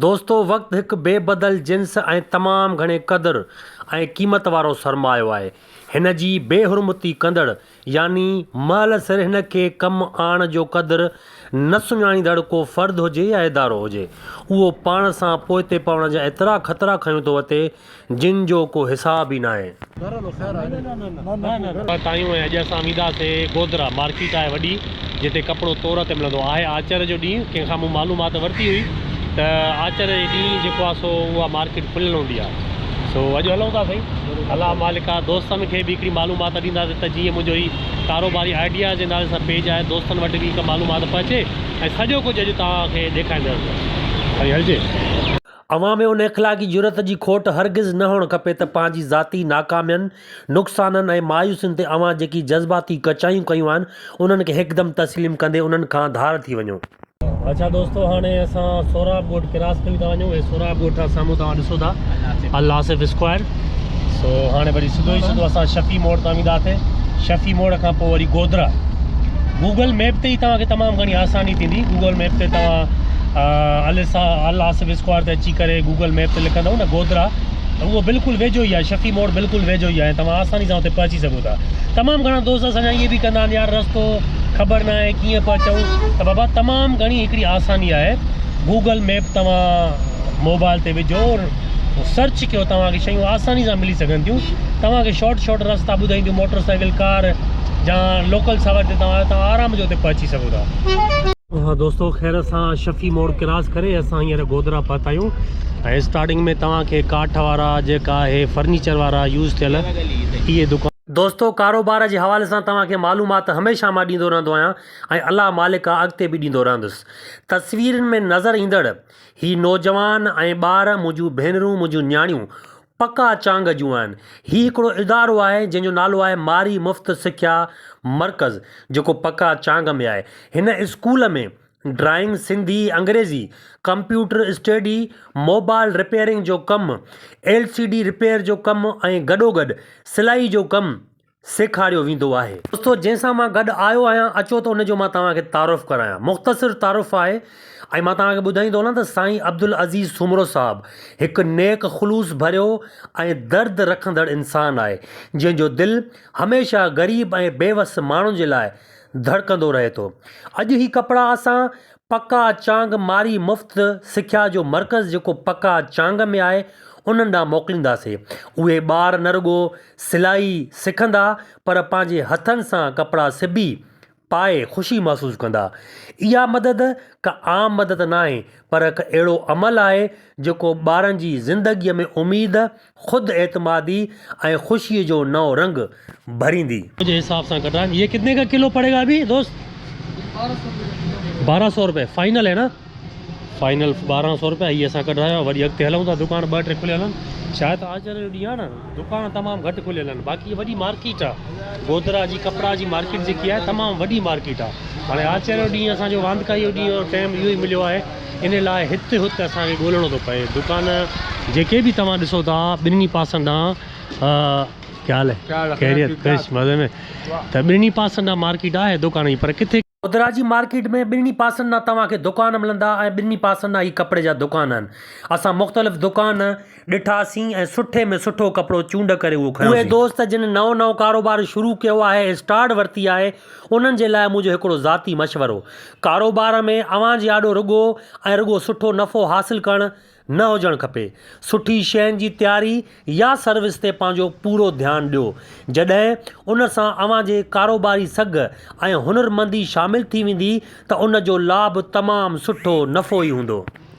دوستو وقت هڪ بي بدل جنس ۽ تمام گهڻي قدر ۽ قيمت وارو سرمايو آهي. هن جي بي حرمتي ڪندڙ يعني مهل سر هن کي ڪم آڻڻ جو قدر نه سڃاڻيندڙ ڪو فرد هجي يا ادارو هجي اهو پاڻ سان پوئتي پوڻ جا ايترا خطرا کنيو ٿو وتي جن جو ڪو حساب ئي ناهي. تايون ۽ اڄ اسان ويندا سي گودرا مارڪيٽ آهي وڏي جتي ڪپڙو تور تي ملندو آهي آچر جو ڏينهن ڪنهن کان مون معلومات ورتي هئي ته آچر جي ڏينهن جيڪو آهي سو اها مارڪيٽ کليل هوندي آهي سو اڄ هلون ٿا سائين الله مالڪا دوستن کي به هڪڙي معلومات ڏيندا سي ته جيئن منهنجو هي ڪاروباري آئيڊيا جي نالي سان پيج آهي دوستن وٽ به هڪ معلومات پهچي ۽ سڄو ڪجهه اڄ توهان کي ڏيکاريندس سائين هلجي. اوهان ۾ ان اخلاقي جرئت جي کوٽ هرگز نه هئڻ کپي ته پنهنجي ذاتي ناڪامين، نقصانن ۽ مايوسين تي اوهان جيڪي جذباتي ڪچايون ڪيون آهن، انهن کي هڪدم تسليم ڪندي انهن کان ڌار ٿي وڃو. اڇا دوستو هاڻي اسان سهراب ڳوٺ ڪراس ڪري ٿا وڃون، هي سهراب ڳوٺ جا سامهون توهان ڏسو ٿا الآصف اسڪوائر. سو هاڻي وري سڌو ئي سڌو اسان شفيع موڙ تان وينداسي شفيع موڙ کان پوء وري گودرا گوگل ميپ تي ئي توهان کي تمام گهڻي آساني ٿيندي گوگل ميپ تي توهان السا الاسف اسڪوار تي اچي ڪري گوگل ميپ تي لکندو نه گودرا ته اهو بلڪل ويجهو ئي آهي شفيع موڙ بلڪل ويجهو ئي آهي توهان آساني سان اتي پهچي سگهو ٿا تمام گهڻا دوست اسان جا ائين به ڪندا آهن يار رستو خبر نه آهي ڪيئن پهچون ته بابا تمام گهڻي هڪڙي آساني آهي گوگل ميپ توهان موبائل تي وجهو سرچ ڪيو توهان کي شيون آساني سان ملي سگهن ٿيون توهان کي شارٽ شارٽ رستا ٻڌائينديون موٽر سائيڪل ڪار جا لوڪل سواري تي توهان آهيو توهان آرام جو اتي پهچي سگهو ٿا ها دوستو خير سان شفي موڙ ڪراس ڪري اسان هينئر گودرا پهتا آهيون ۽ اسٽارٽنگ ۾ توهان کي ڪاٺ وارا جيڪا اهي فرنيچر وارا يوز ٿيل اهي دڪان دوستو ڪاروبار جي حوالي سان توهان کي معلومات هميشه مان ڏيندو رهندو آهيان ۽ الله مالڪ آهي اڳتي به ڏيندو رهندس تصويرن ۾ نظر ايندڙ هي نوجوان ۽ ٻار منهنجون ڀينرون منهنجون نياڻيون پڪا چانگ جون آهن. هي هڪڙو ادارو آهي جنهن جو نالو آهي ماري مفت سکيا مرڪز جيڪو پڪا چانگ ۾ آهي. هن اسڪول ۾ ڊرائنگ، سنڌي، انگريزي، ڪمپيوٽر اسٽيڊي، موبائل رپيئرنگ جو ڪم، ايل سي ڊي رپيئر جو ڪم ۽ گڏوگڏ سلائي جو ڪم سيکاريو ويندو آهي. دوستو جنهن سان مان گڏ آيو آهيان اچو ته ان جو مان توهان کي تعارف ڪرايان. مختصر تعارف آهي ۽ مان توهان کي ٻڌائيندو هلان ته سائين عبدالعزيز سومرو صاحب هڪ نيڪ خلوص ڀريو ۽ درد رکندڙ انسان آهي جنهن جو دل هميشه غريب ۽ بيوس ماڻهن جي لاء ڌڙڪندو رهي ٿو. اڄ هي ڪپڙا اسان پڪا چانگ ماري مفت سکيا جو مرڪز جيڪو پڪا چانگ ۾ آهي انهن ڏانهن موڪلينداسين اهي ٻار نه رڳو سلائي سکندا پر پنهنجي هٿن سان ڪپڙا سبي پائي خوشي محسوس ڪندا اها مدد ڪا عام مدد ناهي پر هڪ اهڙو عمل آهي جيڪو ٻارن جي زندگي ۾ اميد خود اعتمادي ۽ خوشيء جو نئون رنگ ڀريندي. تنهنجي حساب سان کٽان يي ڪتني ڪا ڪلو پڙي گا ابي دوست؟ بارهن سو روپيه فائنل هي نا؟ فائنل بارهن سو روپيه هي اسان ڪڍرايو آهي وري اڳتي هلون ٿا دڪان ٻه ٽي کليل آهن شايد آچر جو ڏينهن آهي نا دڪان تمام گهٽ کليل آهن باقي وڏي مارڪيٽ آهي گودرا جي ڪپڙا جي مارڪيٽ جيڪي آهي تمام وڏي مارڪيٽ آهي هاڻي آچر جو ڏينهن اسان جو واندڪائي جو ڏينهن ٽيم اهو ئي مليو آهي ان لاء هت هت اسان کي ڳولڻو ٿو پئي. دڪان جيڪي به توهان ڏسو ٿا ٻنهي پاسن ڏانهن ڪيا حال هي خيريت ڪرش مزي ۾ ته ٻنهي پاسن ڏانهن مارڪيٽ آهي دڪان هي پر ڪٿي ڪوترا جي مارڪيٽ ۾ ٻنهي پاسن ڏانهن توهان کي دڪان ملندا ۽ ٻنهي پاسن ڏانهن هي ڪپڙي جا دڪان آهن اسان مختلف دڪان. ڏٺاسين ۽ سٺي ۾ سٺو ڪپڙو چونڊ ڪري اهو کنيوسين. اهي دوست جن نئون نئون ڪاروبار شروع ڪيو آهي اسٽارٽ ورتي آهي انهن جي لاء منهنجو هڪڙو ذاتي مشورو ڪاروبار ۾ اوهان جي آڏو رڳو ۽ رڳو سٺو نفعو حاصل ڪرڻ نه هجڻ کپي سٺي شين جي تياري يا سروس تي پنهنجو پورو ڌيان ڏيو جڏهن ان سان اوهان جي ڪاروباري سگهه ۽ هنرمندي شامل ٿي ويندي ته ان جو لاڀ تمام سٺو نفعو ئي هوندو.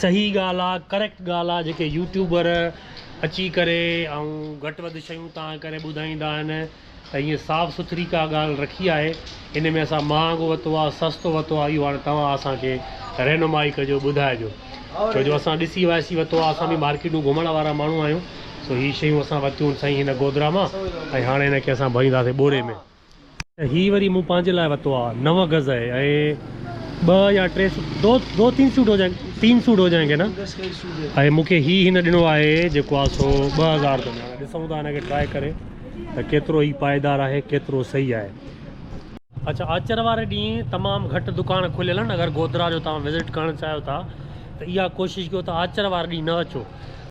صحيح ڳالھ آ ڪريڪٽ ڳالھ آ جيڪي يوٽيوبر اچي ڪري ۽ گھٽ وڌ شيون تان ڪري ٻڌائيندا آھن ته ھيئن صاف سٿري ڪا ڳالھ رکي آھي ان ۾ اسان مھانگو وتو آ سستو وتو آ اھو ھاڻي توھان اسان کي رھنمائي ڪجو ٻڌائجو ڇو جو اسان ڏسي واسي وتو آ اسان به مارڪيٽون گھمڻ وارا ماڻھو آھيون سو ھي شيون اسان وتيون سائين ھن گودرا مان ۽ ھاڻي ھن کي اسان ڀرينداسين ٻوري ۾. هي وري مون پنهنجي لاء وتو آ نو گز ۽ ٻه يا ٽي سوٽ دو دو تين سوٽ هو جائين تين سوٽ هو جائين گي نه ۽ مون کي هي هن ڏنو آهي جيڪو آ سو ٻه هزار جو هاڻي ڏسون ٿا هن کي ٽرائي ڪري ته ڪيترو هي پائيدار آهي ڪيترو صحيح آهي. اڇا آچر واري ڏينهن تمام گهٽ دڪان کليل آهن اگر گودرا جو توهان وزٽ ڪرڻ چاهيو ٿا ته اها ڪوشش ڪيو ته آچر واري ڏينهن نه اچو.